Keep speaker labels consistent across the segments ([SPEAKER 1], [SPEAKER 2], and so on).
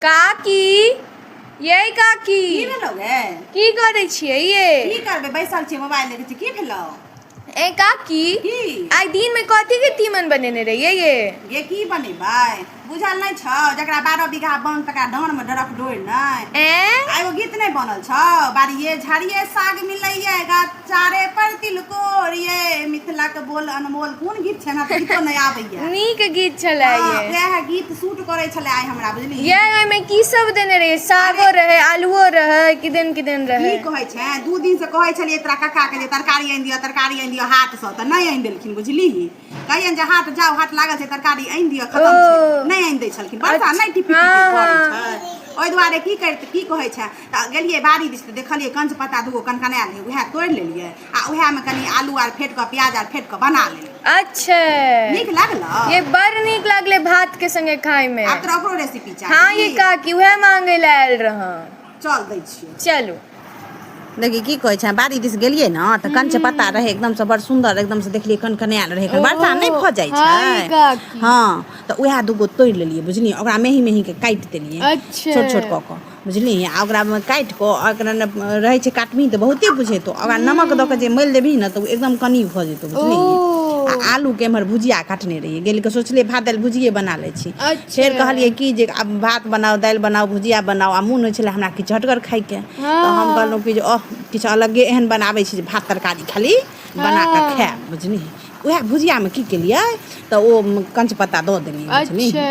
[SPEAKER 1] काकी यै काकी की भेलौ गे
[SPEAKER 2] की करै छियै
[SPEAKER 1] ये की करबै बैसल छियै
[SPEAKER 2] मोबाइल देखै छियै की भेलौ ए काकी
[SPEAKER 1] की आइ दिन
[SPEAKER 2] में कथी
[SPEAKER 1] के तीमन बनेने रहियै ये गे की बनेबै
[SPEAKER 2] बुझल नहि छौ जकरा बारह बीघा बन तकरा डाँड़मे डरक डोरि नहि ए आ एगो गीत नहि बनल छौ बाड़िए झाड़िए साग मिलैए गाछ चारे पर तिलकोर ये मिथिला के बोल अनमोल कोन गीत छै हमरा गीतो नै आबै ये नीक गीत छले
[SPEAKER 1] ये वह गीत सूट
[SPEAKER 2] करै छले आइ हमरा बुझली ये ओय में की सब
[SPEAKER 1] देने रहे सागो रहे आलूओ रहे किदन किदन रहे की कहै छै दू दिन
[SPEAKER 2] से कहै छलिए तोरा काका के जे तरकारी आनि दियो तरकारी आनि दियो हाट से त नै आनि देलखिन बुझली कहियन जे हाट जाओ हाट लागल छै तरकारी आनि दियो खतम छै नै आनि दै छलखिन बरसा नै टिपी टिपी करै छै ओहि दुआरे की करते की कहै छै तऽ गेलियै बाड़ी दिस तऽ देखलियै कंच पत्ता दूगो कनकनायल रहै उएह तोड़ि लेलियै आ उएहमे कनि आलू
[SPEAKER 1] आर फेट कऽ प्याज आर फेट कऽ
[SPEAKER 2] बना लेलियै अच्छा नीक लागल ये बड़ नीक
[SPEAKER 1] लागले भात के संगे खाय में आब तोरा ओकरो रेसिपी चाही
[SPEAKER 2] हाँ ये काकी उहे
[SPEAKER 1] मांगे ले आयल रह चल दै
[SPEAKER 2] छियै चलू
[SPEAKER 1] देखी
[SPEAKER 2] की कहै छै बाड़ी दिस गेलियै ने तऽ कंच पत्ता रहै एकदम से बड़ सुंदर एकदम से देखलियै कनकनायल रहै एखन वर्षा नहि भऽ जाइ हाँ, ये छै काकी। हँ तऽ उएह दूगो तोड़ि लेलियै बुझलियै ओकरा मेही मेही के काटि देलियै अच्छा। छोट छोट कऽ कऽ बुझलिही आ ओकरा काटि कऽ आ ओकरा ने रहै छै काटबही तऽ बहुते बुझेतौ ओकरा नमक दऽ कऽ जे मलि देबही ने तऽ ओ एकदम कनी भऽ जेतौ बुझलिही आ ओ आलूके एम्हर भुजिया काटने रहियै गेलि कऽ सोचलियै भात दालि भुजिये बना लै छी फेर अच्छा कहलियै कि जे आब भात बनाउ दालि बनाउ भुजिया बनाउ आ मोन होइ छलै हमरा किछु चहटगर खायके तऽ हम कहलहुँ हँ कि जे ओह किछु अलगे एहन बनाबै छी जे भात तरकारी खाली बना कऽ हँ खायब बुझलिही उएह भुजियामे की केलियै तऽ ओ कञ्च पत्ता दऽ देलियै बुझलिही अच्छा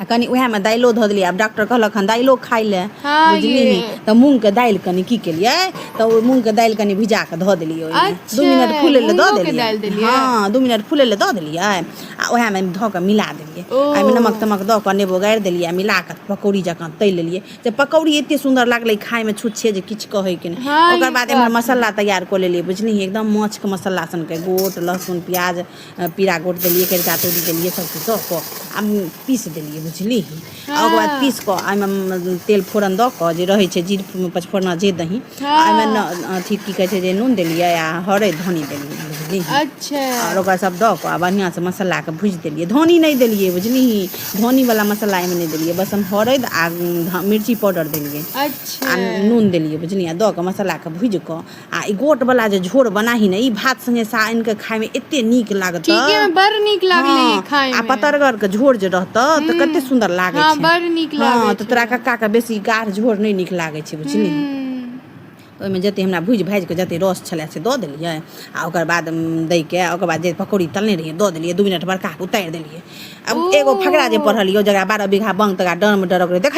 [SPEAKER 2] आ कनि उएहमे दालिओ धऽ देलियै आब डॉक्टर कहलक हन दालिओ खाइ लए हाँ, बुझलिही ये। तऽ मूँगके दालि कनि की केलियै तऽ ओ मूँगके दालि कनि भिजा कऽ धऽ देलियै ओहिमे अच्छा, दू मिनट फूलै लए दऽ मूँगोके देलियै दालि देलियै? हँ दू मिनट फूलै लए दऽ देलियै आ उएहमे धऽ कऽ मिला देलियै ओ। आ ओहिमे नमक तमक दऽ कऽ नेबो गाड़ि देलियै आ मिला कऽ पकौड़ी जकाँ तलि लेलियै से पकौड़ी एतेक सुन्दर लागलै खाइमे छुच्छे जे किछु कहैके नहि हाँ, ओकर ई बाद बात एम्हर मसाला तैयार कऽ लेलियै बुझलिही एकदम माछके मसाला सनके गोट लहसुन प्याज पीरा गोट देलियै करिका तोरी देलियै सभचीज दऽ कऽ आ पीसि देलियै बुझलिय आ ओकर बाद हँ पीस कऽ ओहिमे तेल फोरन दऽ कऽ जे रहै छै जीर पचफोरना जे दही आ ओहिमे हँ अथी की कहै छै जे नून देलियै आ हरैद धनी देलियै बुझलिय अच्छा आओर
[SPEAKER 1] ओकरा सब दऽ
[SPEAKER 2] कऽ आ बढ़िआँ सँ मसालाकेँ भुजि देलियै धनी नहि देलियै बुझलिही धनी वला मसाला एहिमे नहि देलियै बस हम हरैद आ मिर्ची पाउडर देलियै आ अच्छा
[SPEAKER 1] नून देलियै
[SPEAKER 2] बुझलियै आ दऽ कऽ मसालाकेँ भूजि कऽ आ ई गोट वाला जे झोर बनाही ने ई भात संगे सा आनि के खाय में एते नीक लागत ठीके में बड़ नीक
[SPEAKER 1] लागले हाँ, खाय में आ पतरगर के झोर
[SPEAKER 2] जे रहत तऽ कते सुंदर लागे हाँ, छै बड़ नीक हाँ,
[SPEAKER 1] लागे
[SPEAKER 2] तऽ
[SPEAKER 1] तोरा कक्का के बेसी
[SPEAKER 2] गाढ़ झोर नहि नीक लागे छै बुझली हम्म, ओहिमे जते हमरा भूजि भाजि कऽ जते रस छलै से दऽ देलियै आ ओकर बाद उम, दै के आ ओकर बाद जे पकौड़ी तलने रहियै दऽ देलियै दू मिनट बड़का कऽ उतारि देलियै आब एगो फकरा जे पढ़लियै जकरा बारह बीघा बंग तकरा डर मे डरक रहै देख